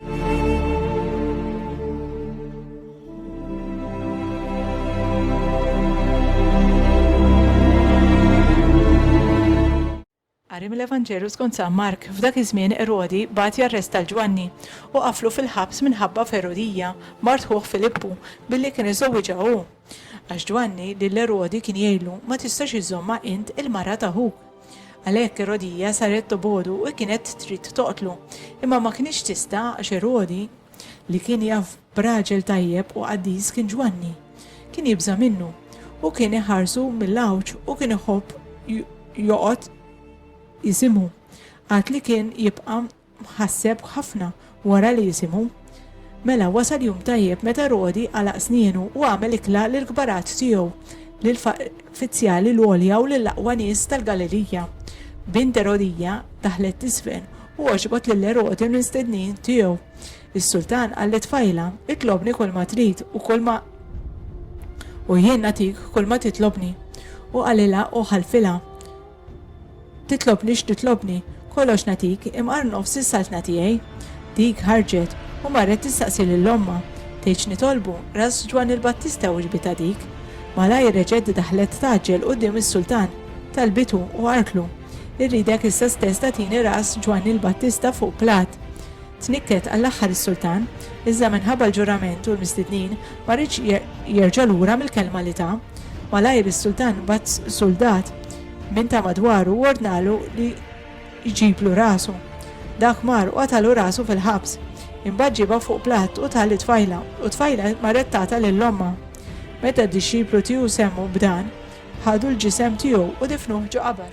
Qari mill-Evanġelju skont San Mark, f'dak iż-żmien Erodi bagħat jarresta 'l Ġwanni u qafflu fil-ħabs minħabba f'Erodija, mart ħuh Filippu, billi kien iżżewwiġha hu. Għax Ġwanni lil Erodi kien jgħidlu, Ma tistax iżżommha int il-mara ta' ħuk. Għalhekk Erodija saret tobogħdu u kienet trid toqtlu, imma ma kinitx tista' għax Erodi, li kien jaf b'raġel tajjeb u qaddis kien Ġwanni, kien jibża' minnu, u kien iħarsu mill-għawġ u kien iħobb joqgħod jisimu, għad li kien jibqa' Ħasseb ħafna wara li jisimhu. Mela wasal jum tajjeb meta Rodi għalaq snienu u għamel ikla lill-kbarat tiegħu, lill-f'fizzjali l-għolja u lill-aqwa nies tal-Galilija. Bint Erodija daħlet t'isfel u għoġbot lil Erodi u l-mistednin tiegħu. Is-sultan qal lit-tfajla, Itlobni kulma trid u kulma u jien nagħtik kulma titlobni. U qalilha u ħalfilha. Titlobni x'titlobni, kollox nagħtik, imqar nofs is-saltna tiegħi. Dik ħarġet u marret tistaqsi lil ommha. Tgħid x'nitolbu, ras Ġwann il-Battista wiġbitha dik. Malajr reġgħet daħlet tgħaġġel quddiem is-Sultan, talbitu u qartlu, Irridek issa stess tagħtini ras Ġwann il-Battista fuq platt. Tnikket għall-aħħar is-sultan, iżda minħabba l-ġurament u l-mistednin ma riedx jerġa' lura mill-kelma li ta. Malajr is-sultan bagħat suldat minn ta' madwaru u ordnalu li jġiblu rasu. Dak mar u qatalu rasu fil-ħabs. Imbagħad ġiebha fuq platt u tah lit-tfajla, u t-tfajla marret tagħtha lil ommha. Meta d-dixxiplu tiehu semmu b'dan, ħadu l-ġisem tiegħu u difnuh ġo qabar.